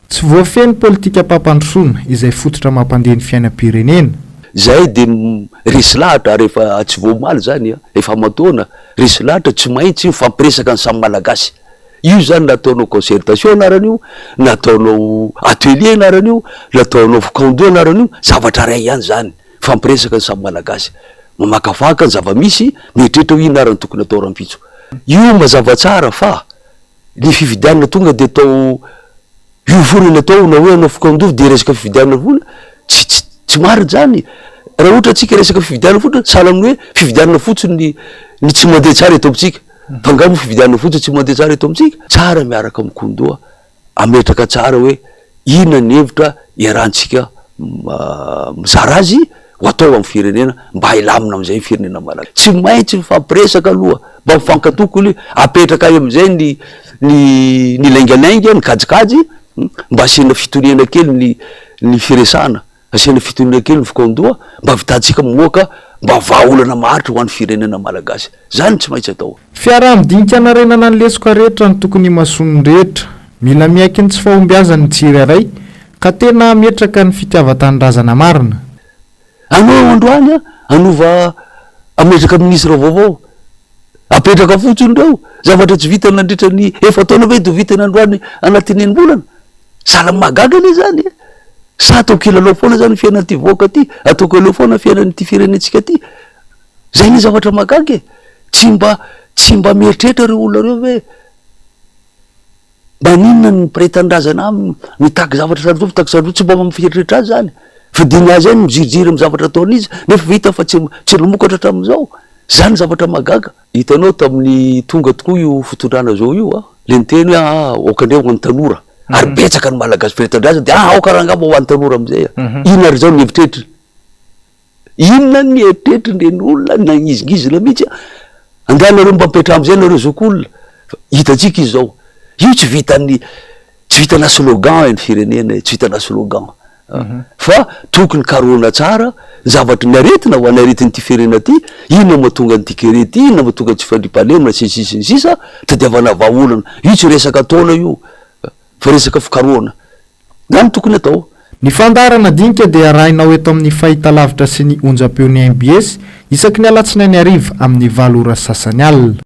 Tsy voafehin'ny politikam-pampandrosoana, izay fototra mampandeha ny fiainam-pirenena. Zay de resy lahatra ary efa tsy vao omaly zany an, efa aman-taona, resy lahatra tsy mahintsy mifampiresaka ny samy malagasy. Io zany na ataonao concertation anaran'io, na ataonao atelier anaran'io, na ataonao fikaonjo anaran'io, zavatra ray ihany zany. Mifampiresaka ny samy Malagasy. Mamakafaka ny zava-misy, mieritreritra hoe inona ary no tokony atao rahampitso. Io mazava tsara fa ny fifidianana tonga dia atao io foana ilay atao na hoe hanao fokontany dia resaka fifidianana foana, tsy marina izany. Raha ohatra isika resaka fifidianana foana, sahala amin'ny hoe fifidianana fotsiny ny tsy mandeha tsara eto amintsika. Fa angaha moa fifidianana fotsiny tsy mandeha tsara eto amintsika? Tsara miaraka amin'i Koundoa. hametraka tsara hoe inona ny hevitra iarahantsika mizara azy ho atao amin'ny firenena mba hilamina amin'izay ny firenena malagasy. Tsy maintsy mifampiresaka aloha, mba mifankatoky aloha, apetraka any amin'izay ny ny ny laingalainga, ny kajikajy, mba asiana fitoniana kely ny ny firesahana. Asiana fitoniana kely ny vokaondoha mba avitantsika moaka mba vahaolana maharitra ho an'ny firenena Malagasy. Zany tsy maintsy atao. Fiaraha midinika hanarenana ny lesoka rehetra no tokony himasoan'ny rehetra. Mila miaiky ny tsy fahombiazan'ny tsirairay ka tena hametraka ny fitiavan-tanindrazana marina. Anao androany a hanova hametraka ministra vaovao. Apetraka fotsiny reo zavatra tsy vita nandritra ny efa-taona ve do vitany androany anatin'enim-bolana. Zalahy mahagaga anie zany e! Sa atao kilalao foana zany ny fiainan'ity vahoaka ity? Atao kilalao foana ny fiainan'ity firenentsika ity? Zay ny zavatra mahagaga e! Tsy mba tsy mba mieritreritra reo olona reo ve? Maninona ny mpiray tanindrazana aminy mitaky zavatra sarotsarotra mitaky sarotsarotra tsy mba mampieritreritra azy zany? Fidiny azy any miziriziry amin'ny zavatra ataon'izy nefa vita fa tsy tsy namokatra hatramin'izao? Zany ny zavatra mahagaga. Hitanao tamin'ny tonga tokoa io fitondrana zao io a, le niteny hoe aa aoka ndray ho an'ny tanora, ary betsaka ny malagasy very tanindrazana dia aa aoka ary angamba ho an'ny tanora amizay a. Inona ary izao ny eritreritry, inona ny eritreritry ireny olona nangizingizina mihitsy a. Angaha nareo mba mipetraha amizay nareo zokiolona, fa hitantsika izy zao, io tsy vitan'ny, tsy vitana slogan ny firenena e, tsy vitana slogan. fa tokony karohina tsara ny zavatry ny aretina ho an'ny aretin'ity firenena ity, inona no mahatonga an'ity kere ity, inona no mahatonga tsy fandriampahalemana sy ny sisa sy ny sisa, tadiavana vahaolana, io tsy resaka taona io fa resaka fikarohana, zany no tokony atao. Ny fandaharana dinika dia arahinao eto amin'ny fahitalavitra sy ny onjam-peon'ny mbs isaky ny alatsinainy hariva amin'ny valo ora sasany alina.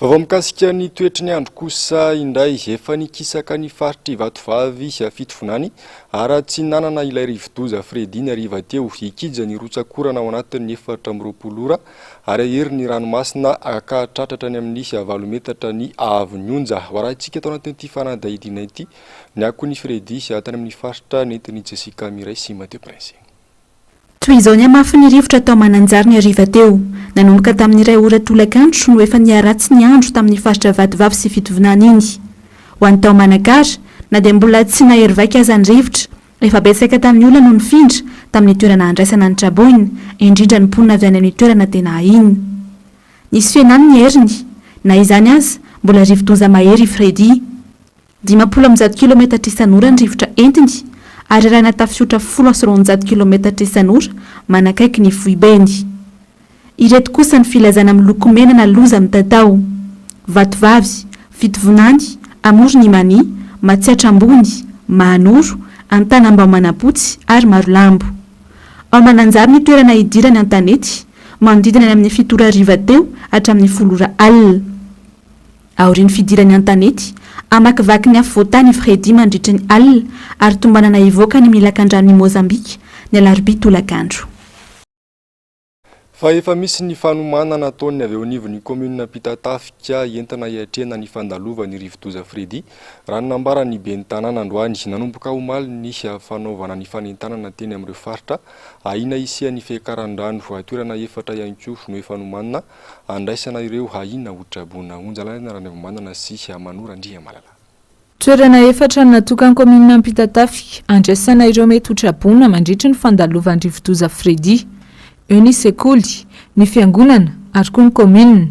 Vaovao mikasika ny toetry ny andro kosa indray, efa nikisaka ny faritr'i Vatovavy Fitovinany, Aratsinanana ilay rivodoza Freddy ny hariva teo. Hikija ny rotsak'orana ao anatin'ny efatra amby roapolo ora ary hahery ny ranomasina hahatratra hatrany amin'ny valo metatra ny haavon'ny onja. Ho arahintsika ato anatin'ity fanadihadiana ity ny akon'i Freddy tany amin'ny faritra nentin'i Jessica Mireille sy Mathieu Prince. Toy izao ny hamafin'ny rivotra tao Mananjary ny hariva teo. Nanomboka tamin'ny iray ora tolakandro no efa niharatsy ny andro tamin'ny faritra Vatovavy sy Fitovinany iny. Ho an'ny tao Manakara, na dia mbola tsy nahery vaika aza ny rivotra, efa betsaka tamin'ny olona no nifindra tamin'ny toerana handraisana ny traboina, indrindra ny mponina avy any amin'ny toerana tena ahiana. Nisy fihenany ny heriny. Na izany aza, mbola rivo-doza mahery i Freddy. Dimampolo amby zato kilaometatra isan'ora ny rivotra entiny, ary arahina tafihotra folo sy roanjato kilaometatra isan'ora manakaiky ny foibeny. Ireto kosa ny filazana miloko mena na loza mitatao, Vatovavy, Fitovonany, Amoron' i Mania, Matsiatra Ambony, Mahanoro, Antanambao Manapotsy ary Marolambo. Ao Mananjary no toerana hidirany an-tanety, manodidina ny amin'ny fito ora hariva teo hatramin'ny folo ora alina. Aorian'ny fidirany an-tanety, hamakivaky ny afovoan-tany i Freddy mandritry ny alina ary tombanana hivoaka any amin'ny lakandranon'i Mozambika ny alarobia tolakandro. Fa efa misy ny fanomanana ataon'ny avy eo anivon'ny kaominina Ampitatafika entina hiatrehana ny fandalovan'ny rivodoza Freddy, raha ny nambaran'ny ben'ny tanàna androany. Nanomboka omaly ny fanaovana ny fanentanana teny amin'ireo faritra ahiana hisian'ny fiakaran-drano. Toerana efatra ihany koa no efa nomanina Andraisana ireo haina ho traboina. Onjalalaina Ranaivomanana sy Hamanoro Andriamalala. Toerana efatra natokan'ny kaominina Ampitatafika andraisana ireo mety ho traboina mandritry ny fandalovan'ny rivodoza Freddy. Eo ny sekoly, ny fiangonana ary koa ny kaominina.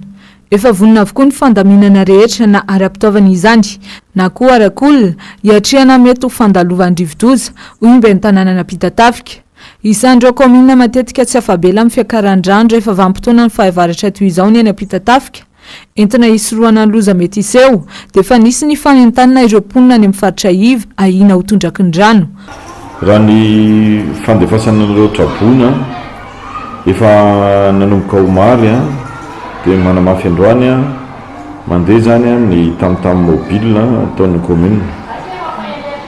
Efa vonona avokoa ny fandaminana rehetra na ara-pitaovana izany na koa arak'olona hiatrehana ny mety ho fandalovan'ny rivodoza, hoy ny ben'ny tanànan'Ampitatafika. Izany ireo kaominina matetika tsy afa-bela amin'ny fiakaran-drano rehefa vanim-potoana ny fahavaratra toy izao ny eny Ampitatafika. Entina hisorohana ny loza mety hiseho, dia efa nisy ny fanentanana ireo mponina any amin'ny faritra iv ahiana ho tondraky ny rano. Raha ny fandefasana an'ireo traboina efa nanomboka omaly dia manamafy androany, Mandeha izany ny tam-tam mobile ataon'ny commune.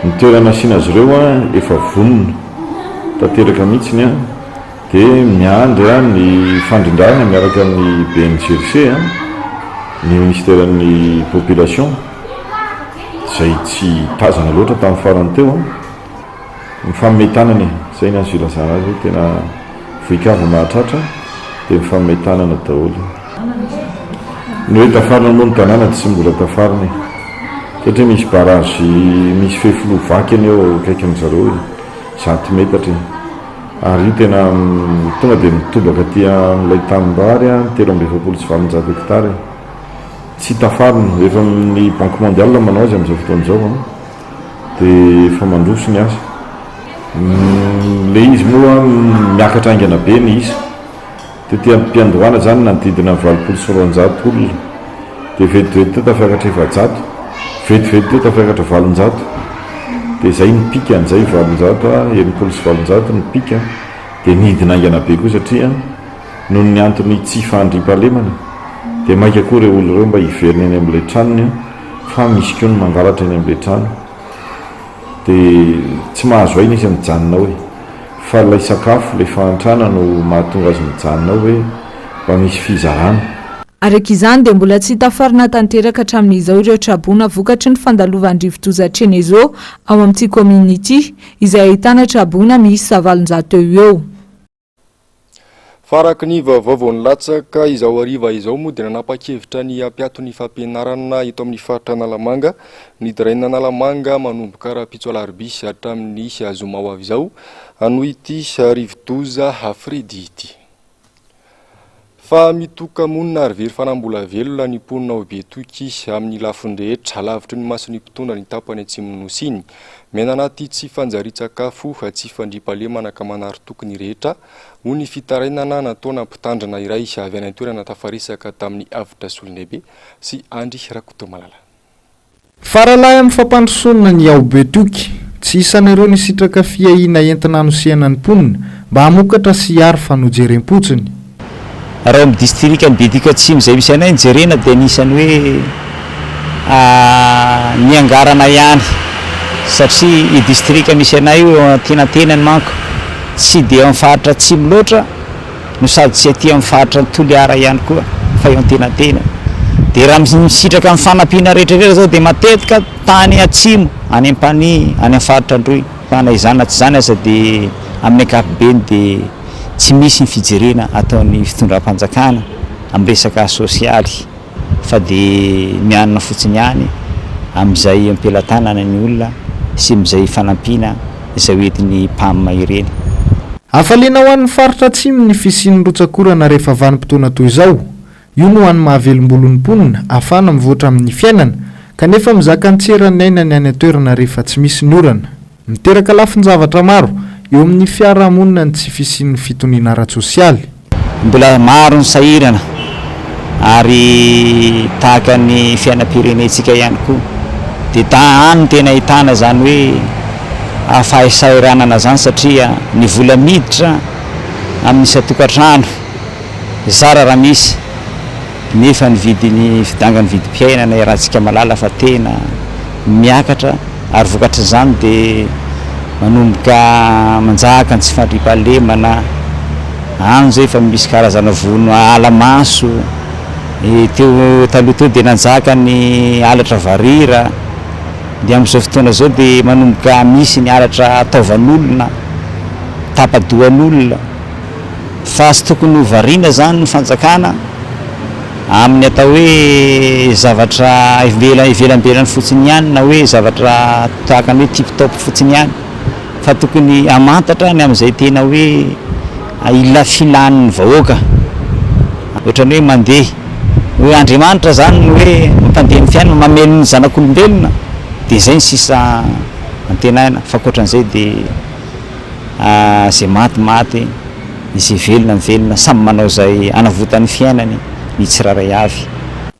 Ny toerana asiana azy ireo efa vonona tanteraka mihitsy dia miandry ny fandrindrana miaraka amin'ny BNGRC, ny ministeran'ny population izay tsy tazana loatra tamin'ny farany teo. Mifanomey tanana e! Zay ny azo ilazana azy hoe tena vohikava mahatratra dia mifanomey tanana daholo. Ny hoe tafarina moa ny tanàna tsy mbola tafarina e! Satria misy barrage misy fefiloha vaky anie eo akaikin-dry zareo e! Zato metatra e! Ary io tena tonga dia mitobaka aty amin'ilay tanimbary ny telo amby efapolo sy valonjato hectares e! Tsy tafarina, efa ny banky mondiale manao azy amin'izao fotoana izao an! dia efa mandroso ny asa. Ilay izy moa miakatra haingana be ny isa. Tety am-piandohana izany nanodidina ny valopolo sy roanjato olona, dia vetivety teo tafakatra efajato, vetivety teo tafakatra valonjato, dia izay ny pic an'izay valonjato, enimpolo sy valonjato ny pic, dia nidina haingana be koa satria noho ny antony tsy fandriampahalemana dia maika koa ireo olona ireo mba hiverina eny amin'ilay tranony. fa misy koa ny mangalatra eny amle trano de tsy mahazo aina izy an mijanona ao e fa ilay sakafo ilay fahantrana no mahatonga azy mijanona ao hoe mba misy fizarana. Araka izany dia mbola tsy tafarina tanteraka hatramin'izao ireo traboina vokatry ny fandalovan'ny rivodoza Chenezo ao amin'ity kaominina ity, izay ahitana traboina miisa valonjato eo ho eo. Fa araka ny vaovao nilatsaka izao hariva izao moa dia nanapa-kevitra ny hampiato ny fampianarana eto amin'ny faritra Analamanga ny diraina Analamanga manomboka rahampitso alarobia hatramin'ny zoma ho avy izao noho ity rivodoza Freddy ity. Fa mitoka-monina ary very fanambola velona ny mponina ao Betoky amin'ny lafiny rehetra, lavitry ny mason'ny mpitondra ny tapany atsimon'ny Nosy iny. Miaina anaty tsy fanjarian-tsakafo, tsy fandriampahalemana ka manary toky ny rehetra, hoy ny fitarainana nataona mpitandrina iray avy any an-toerana tafaresaka tamin'ny Avotra Solonaibe sy Andry Rakotomalala. Faralahy amin'ny fampandrosoana ny ao Betoky, tsy isan'ireo nisitraka fiahiana entina hanosehana ny mponina mba hamokatra sy hiaro fa nojerem-potsiny. Raha ao amin'ny distrikan'i Betoky Atsimo izay misy anay ny jerena dia anisan'ny hoe niangarana ihany satria io distrika misy anay io eo antenantenany manko tsy dia ao amin'ny faritra atsimo loatra. no sady tsy aty amin'ny faritry Toliara ihany koa fa eo Antenantena. Dia raha misitraka ny fanampiana rehetra rehetra izao dia matetika tany atsimo, any Ampanihy, any amin'ny faritra Androy. Fa na izany na tsy izany aza dia amin'ny ankapobeny dia tsy misy ny fijerena ataon'ny fitondram-panjakana amin'ny resaka sosialy. fa dia mianina fotsiny ihany amin'izay am-pelatanana ny olona sy mizay fanampiana izay hoentin'ny Pam ireny. Hafaliana ho an'ny faritra Atsimo ny fisian'ny rotsak'orana rehefa vanim-potoana toy izao. Io no hany mahavelom-bolo ny mponina, ahafahana mivoatra amin'ny fiainana, kanefa mizaka ny tseran'ny aina ny any an-toerana rehefa tsy misy ny orana. Miteraka lafin-javatra maro eo amin'ny fiarahamonina ny tsy fisian'ny fitoniana ara-tsosialy. Mbola maro ny sahirana ary tahaka ny fiainam-pirenentsika ihany koa dia ta any no tena ahitana izany hoe fahasahiranana izany satria ny vola miditra amin'ny isan-tokantrano zara raha misy Nefa ny vidiny fidangan'ny vidim-piainana iarahantsika malala fa tena miakatra ary vokatr'izany dia manomboka manjaka ny tsy fandriampahalemana, any izao efa misy karazana vono ala maso, teo taloha teo dia nanjaka ny halatra varira, dia amin'izao fotoana izao dia manomboka misy ny halatra taovan'olona, tapa-dohan'olona. Fa tsy tokony ho variana izany ny fanjakana amin'ny atao hoe zavatra ivelambelan'ny fotsiny ihany na hoe zavatra tahaka ny hoe tip top fotsiny ihany fa tokony hamantatra ny amin'izay tena hoe ilafilan'ny vahoaka ohatran'ny hoe mandeha hoe Andriamanitra izany no hoe mpandeha ny fiainana mamely ny zanak'olombelona dia izay ny sisa antenaina fa ankoatran'izay dia Izay maty maty, izay velona velona, samy manao izay hanavotany ny fiainany ny tsirairay avy.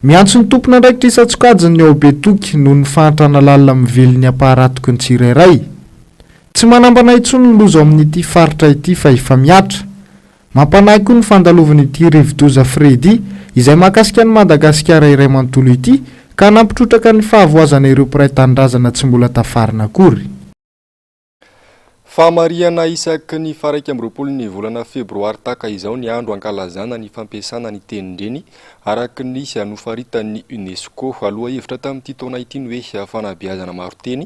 Miantso ny tompon'andraikitra isan-tsokajiny ny ao Betoky noho ny fahantrana lalina mively ny ampaharatoky ny tsirairay. Tsy manambana intsony ny loza ao amin'ity faritra ity fa efa mihatra. Mampanahy koa ny fandalovan'ity rivodoza Freddy izay mahakasika an'i Madagasikara iray manontolo ity ka nampitrotraka ny fahavoazana ireo mpiray tanindrazana tsy mbola tafarina akory. Fahamarihana isaky ny faharaika amby roapolo ny volana febroary tahaka izao ny andro hankalazana ny fampiasana ny tenin-dreny araka ny nofaritan'ny UNESCO. Lohahevitra tamin'ity taona ity ny hoe Fanabeazana maro-teny,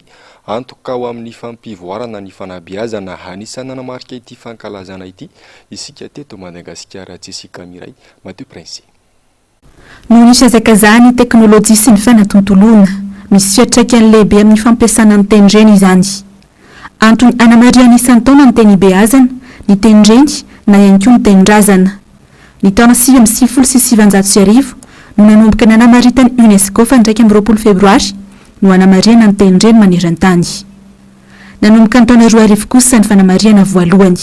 antoka ho amin'ny fampivoarana ny fanabeazana. Anisan'ny nanamarika ity fankalazana ity isika teto Madagasikara, Jessica Miray, Matio Prince. Noho ny fihazakazahan'ny teknolojia sy ny fanatontoloana, misy fiantraikany lehibe amin'ny fampiasana ny tenindreny izany. Antony anamarihana isan-taona ny teny ibeazana, ny tenindreny na ihany koa ny tenindrazana. Ny taona sivy amby sivifolo sy sivanjato sy arivo no nanomboka nanamaritan'ny UNESCO fa ny iraika amby roapolo febroary no hanamarihana ny tenindreny maneran-tany. Nanomboka ny taona roa arivo kosa ny fanamarihana voalohany.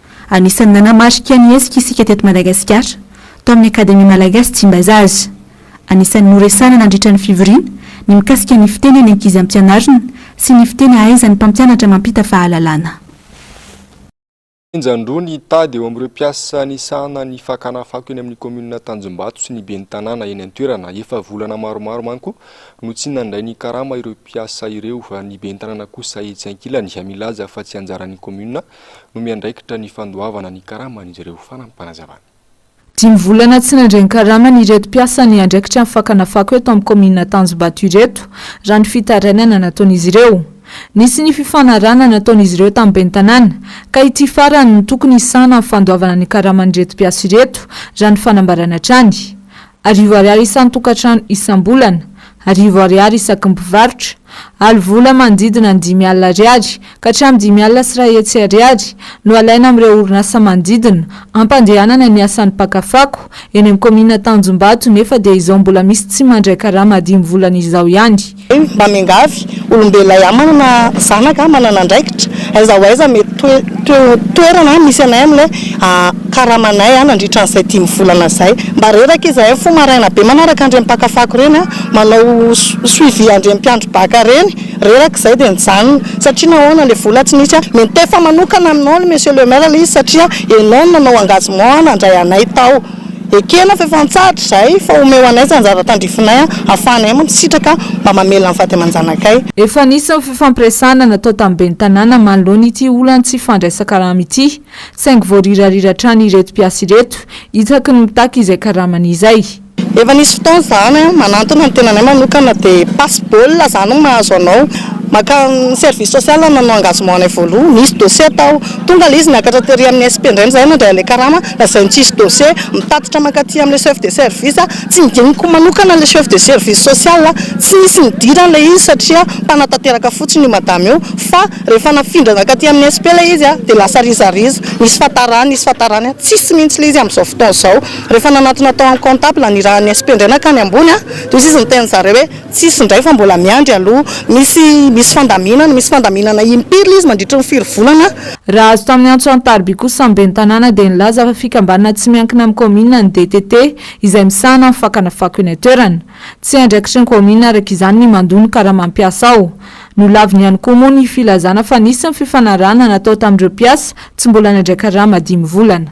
Anisan'ny nanamarika ny hetsika isika teto Madagasikara, tao amin'ny Akademia Malagasy Tsimbazaza. Anisan'ny noresahana nandritra ny fivoriana ny mikasika ny fiteny any ankizy ampianarina sy ny fiteny ahaizan'ny mpampianatra mampita fahalalana. Henjan-droa ny tady eo amin'ireo mpiasa nisahana ny fakana fako eny amin'ny kaominina Tanjombato sy ny ben'ny tanàna eny an-toerana. Efa volana maromaro manko no tsy nandray ny karama ireo mpiasa ireo. Ny ben'ny tanàna kosa etsy ankilany milaza fa tsy anjaran'ny kaominina no miandraikitra ny fandoavana ny karaman'izy ireo fanampanazavan'. Dimy volana tsy nandray ny karamany ireto mpiasa niandraikitra ny fakana fako eto amin'ny kaominina Tanjombato ireto, raha ny fitarainana nataon'izy ireo. Nisy ny fifanarahana nataon'izy ireo tamin'ny ben'ny tanàna, ka ity farany no tokony hisahana ny fandoavana ny karaman'ireto mpiasa ireto, raha ny fanambarana hatrany. Arivo Ariary isan-tokantrano isam-bolana, arivo Ariary isaky ny mpivarotra, alo vola manodidina ny dimy alina Ariary ka hatramin'ny dimy alina sy iray hetsy Ariary no alaina amin'ireo orinasa manodidina hampandehanana ny asan'ny mpaka fako eny amin'ny kaominina Tanjombato nefa dia izao mbola misy tsy mandray karama dimy volana izao ihany Eny, mba miangavy, olombelona ihany manana zanaka, manana andraikitra, aiza ho aiza mety toe, toe, toerana misy anay amin'ilay karamanay nandritra an'izay dimy volana izay. Mba reraka izahay mifoha maraina be manaraka an'ireny mpaka fako ireny, manao suivi an'ireny mpiandry baka ireny, reraka izay dia nijanona, satria nahoana ilay vola tsy nisy, mety tefa manokana aminao, Monsieur le Maire, ilay izy satria ianao no nanao engagement nandray anay tao. Ekena fa efa antsahatra izahay fa omeo anay izany zavatra tandrifinay ahafahanay mansitraka mba mamela ny vady aman-janakay. Efa nisy ny fifampiresahana natao tamin'ny ben'ny tanàna manoloana ity olan'ny tsy fandraisan-karama ity, saingy voarirarira hatrany ireto mpiasa ireto, isaky ny mitaky izay karamany izay. Efa nisy fotoana izany, manantona ny tenanay manokana dia passe-bola izany no mahazo anao, mankany service social nanao engagement anay voaloha, nisy dossier tao, tonga ilay izy niakatra tery amin'ny SP indray, izay nandray an'ilay karama. Lazain'i Tsisy Dose, mitatitra mankaty amin'ilay chef de service, Tsy nodiniko manokana ilay chef de service social, tsy nisy nidirany ilay izy satria mpanatanteraka fotsiny io madama io, fa rehefa nafindra nankaty amin'ny SP ilay izy dia lasa rizariza, nisy fatarany, nisy fatarany, tsisy mihitsy ilay izy amin'izao fotoana izao. Rehefa nanantona tao amin'ny comptable nirahan'ny SP indray nankany ambony dia hoy izy niteny an'zareo hoe. Tsisy indray fa mbola miandry aloha. Misy misy fandaminana, misy fandaminana impiry le izy mandritry ny firy volana. Raha azo tamin'ny antso an-tariby kosa ny ben'ny tanàna dia nilaza fa fikambanana tsy miankina amin'ny kaominina ny DTT izay misahana ny fakana fako eny an-toerana. Tsy andraikitry ny kaominina araka izany ny mandoa ny karama mpiasa ao. Nolaviny ihany koa moa ny filazana fa nisy ny fifanarahana natao tamin'ireo mpiasa tsy mbola nandray karama dimy volana.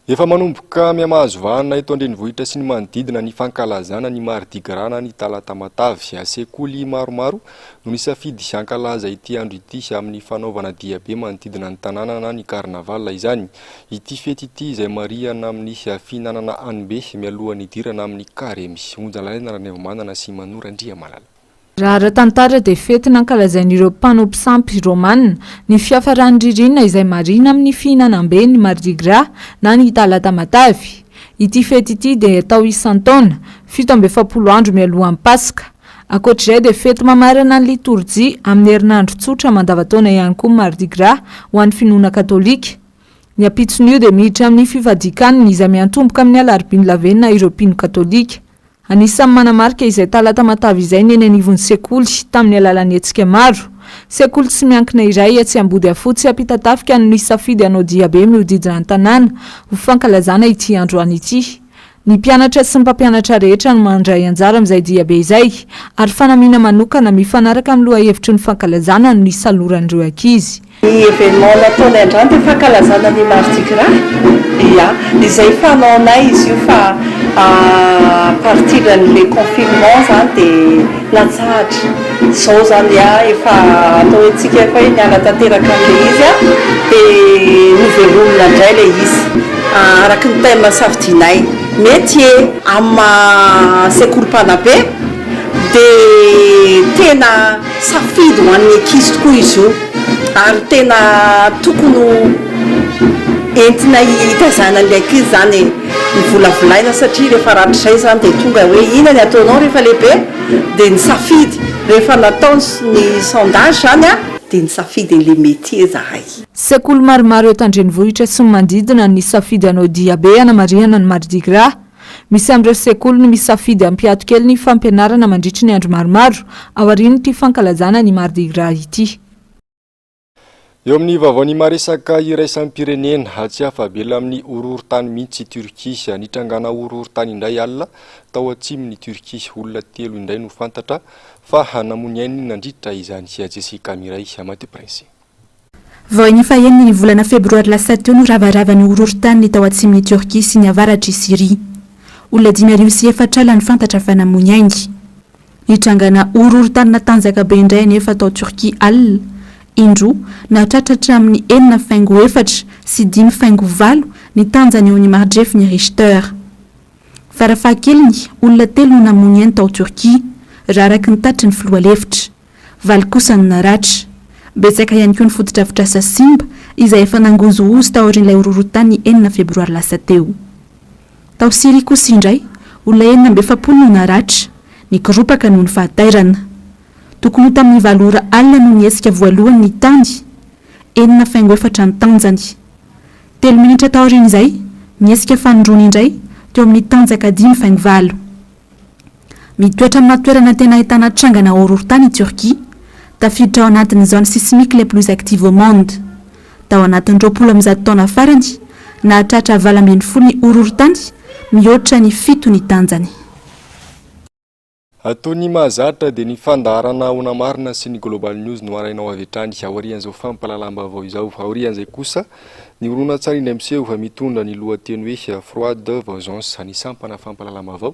Efa manomboka mihamahazo vahana eto an-drenivohitra sy ny manodidina ny fankalazana ny Mardi Gras na ny Talata Matavy. Sekoly maromaro no nisafidy hankalaza ity andro ity amin'ny fanaovana diabe manodidina ny tanàna na ny carnaval izany. Ity fety ity izay marihana amin'ny fihinanana hanimbe mialohan'ny hidirana amin'ny Karemy. Onja lalaina Ranaivomanana sy Manoa Randriamalala. Raha ara-tantara dia fety nankalazain'ireo mpanao mpisampy Romana ny fiafaran'ny ririnina izay marihina amin'ny fihinanam-be ny Mardi Gras na ny Talata Matavy. Ity fety ity dia atao isan-taona, fito amby efapolo andro mialohan'ny Paska. Ankoatr'izay dia fety mamarana ny litorjia amin'ny herinandro tsotra mandavan-taona ihany koa ny Mardi Gras ho an'ny finoana katolika. Ny ampitson'io dia miditra amin'ny fifadian-kanina izay miantomboka amin'ny alarobia ny lavenona ireo mpino katolika. Anisan'ny manamarika izay Talata matavy izay ny eny anivon'ny sekoly, tamin'ny alalan'ny hetsika maro. Sekoly tsy miankina iray etsy Ambodiafotsy, Ampitatafika no nisafidy hanao diabe mihodidina ny tanàna, ho fankalazana ity androany ity. Ny mpianatra sy ny mpampianatra rehetra no mandray anjara amin'izay diabe izay, ary fanamiana manokana mifanaraka amin'ny lohahevitry ny fankalazana no nisaloran'ireo ankizy. Ny événement nataonay androany dia fankalazana ny Mardi Gras, ya, izay fanaonay izy io fa à partir an'ilay confinement izany dia latsahatra, izao izany ya efa atao hoe tsika efa hoe niala tanteraka an'ilay izy an, dia novelomina indray ilay izy araky ny thème safidianay, métier. Amin'ny maha sekoly mpanabe dia tena. Safidy ho an'ny ankizy tokoa izy io ary tena tokony ho entina hitazana an'ilay ankizy izany ny volavolaina satria rehefa rahatrizay izany dia tonga hoe inona ny ataonao rehefa lehibe? dia ny safidy rehefa natao ny sondage izany an! dia nisafidy an'ilay métier izahay. Sekoly maromaro eto an-drenivohitra sy ny manodidina nisafidy anao diabe hanamarihana ny Mardi Gras. Misy amin'ireo sekoly no misafidy hampiato kely ny fampianarana mandritry ny andro maromaro aorian'ity fankalazana ny Mardi Gras ity. Eo amin'ny vaovao ny maresaka iraisam-pirenena, tsy afa-bela amin'ny horohorontany mihitsy i Turquie. Nitrangana horohorontany indray alina tao atsimon'i Turquie. Olona telo indray no fantatra fa namoy ny ainy nandritra izany. Jessica Mireille, Matipresse. Vao ny fahenina ny volana febroary lasa teo no ravaravan'ny horohorontany ny tao atsimon'i Tiorkia sy ny avaratr'i Syria. Olona dimy arivo sy efatra alina no fantatra fa namoy aingy. Nitrangana horohorontany natanjaka be indray anefa tao Tiorkia alina, indroa, nahatratra hatramin'ny enina faingo efatra sy dimy faingo valo ny tanjany eo amin'ny maridrefin'ny Richter. Farafahakeliny, olona telo no namoy ny ainy tao Tiorkia, raha araka ny tatitry ny filoha lefitra. Valo kosa no naratra. Betsaka ihany koa ny fotodrafitrasa simba izay efa nangozohozo taorian'ilay horohorontany enina febroary lasa teo. Tao Syria kosa indray, olona enina amby efapolo no naratra, nikoropaka noho ny fahatairana. Tokony ho tamin'ny valo ora alina no nihetsika voalohany ny tany, enina faingo efatra ny tanjany. Telo minitra taorian'izay, nihetsika fanindroany indray, teo amin'ny tanjaka dimy faingo valo. Mitoetra amina toerana tena ahitana trangana horohorontany i Turquie. Tafiditra ao anatin'ny zones sismiques les plus actives au monde. Tao anatin'ny roapolo amin'ny zato taona farany, nahatratra valo ambin'ny folo ny horohorontany, mihoatra ny fito ny tanjany. Ato ny mahazatra dia ny fandaharana Ahoana Marina sy ny Global News no harahinao avy hatrany aorian'izao fampahalalam-baovao izao. Aorian'izay kosa, ny horonantsary indray miseho fa mitondra ny lohateny hoe Froide Vauzance, ny sampana fampahalalam-baovao